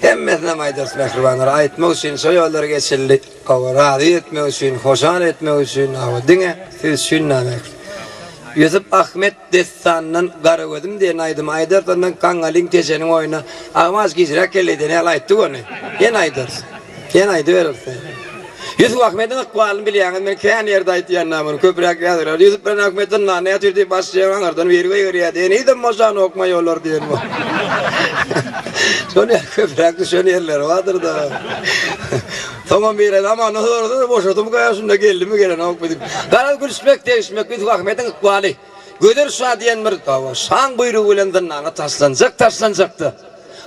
Hemmesinem aýdarys mähribanlar aýtmak üçin şo ýollary geçildi. Hawa razy etmek üçin, hoşal etmek üçin hawa diňe siz üçin name. Ýusup Ahmet dessanyndan Garagözüm diýen aýdymy aýdarys ondan Gaňalyň Teşeniň oýny Agamaç giçräk geldi diýen ýaly aýtdyk ony. Ýene aýdarys. Sen aýdyberersiň. Ýusup Ahmediň ykbalyny bilýäňiz, men kän ýerde aýtýan-da muny, köpräk ýazyberýär. Ýusup bilen Ahmet zyndanda ýatyr diýip baş jeň aňyrdan biri goýberýärdi, henizem boşanokmaý olar diýen bor. Şol ýaly köpräk düşen ýerleri bardyr-da. Soňam biri zamandan sorasa-da boşadymyka ýa şunda geldimi gelenokmy diýip. Garaz gülüşmek, degişmek Ýusup Ahmediň ykbaly. Gözer şa diýen bir şaň buýrugy bilen zyndana taşlanjak taşlanjakda,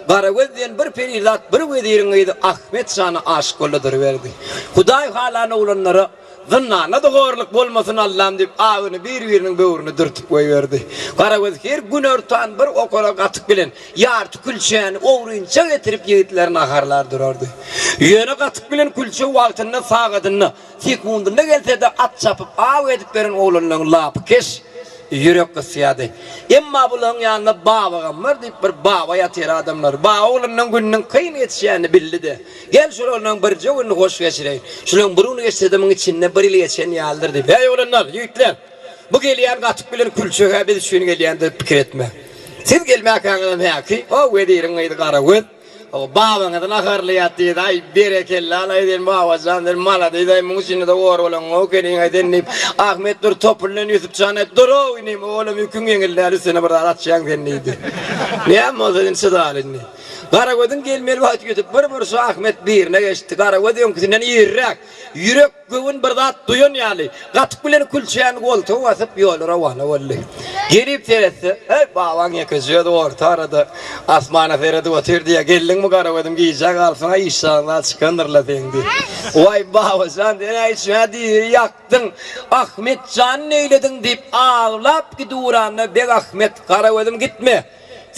Garagöz diýen bir perizat bir weziriň gyzy Ahmet şana aşyk boldy duruberdi. Hudaý halan oglanlara zyndanda-da horluk bolmasyn Allam diýip abyny bir-biriniň böwrüne dürtüp goýberdi. Garagöz her günortan bir okara gatyk bilen ýarty külçäni ogrynça getirip ýigitlere naharlar durardy. Ýöne gatyk bilen külçe wagtynda sagadynda Sekundyna gelse-de at çapyp, aw edip beren oglanlaryň lapy keş, ýürek gysýardy. Emma bularyň ýanynda Babagam bar diýip, bir baba ýatyr adamlar. Baba oglanlaryň gününiň kyn geçýänini bildi-de, Gel, şol oglanlaryň birje gününi hoş geçireýin. Şularyň bir güni geçse-de, munuň içinde bir ýyl geçen ýalydyr diýip. Häý, oglanlar, ýigitler, bu gelýän gatyk bilen külçe-hä biz üçin gelýändir pikir etme. Siz gelmäkäňizem häki, o weziriň gyzy Garagöz, Ow babaňyzy naharlaýar diýdi aý berekella alaý sen babajan sen maladys aý muň içindede or bolaňow ekeniň aý sen diýip Ahmet dur topulyndan Ýusupjan aý durow inim oglum ýüküň ýeňil däl üstüne bir zat atýaň sen diýdi näme bolsa sen çydal indi Garagözüň gelmeli wagty ýetip bir burşy Ahmet birine geçdi Garagöz öňküsinden iriräk ýürek Göwün bir zat duýan ýaly, gatyk bilen külçäni goltuga basyp, ýola rowana boldy. Gelip seretse, Heý, babaň ýekeje özi orta arada asmana seredip otyrdy ýa, geldiňmi garagözüm, gijä galsaň-a işjagyndan çykandyr-la seň diýip. Waý, baba jan, sen-ä içmä diri ýakdyň, Ahmet jany neýlediň diýip, aglap gidiwuranda Begahmet, Garagözüm gitme!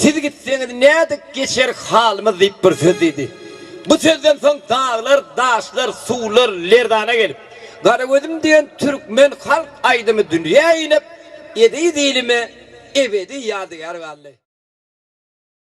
Siz gitseňiz nädip geçerik halymyz diýip bir söz diýdi. Bu sözden soň daglar, daşlar, suwlar lerzana gelip, Garagözüm diýen türkmen halk aýdymy dünýä inip, eziz ilime ebedi ýadygär galdy.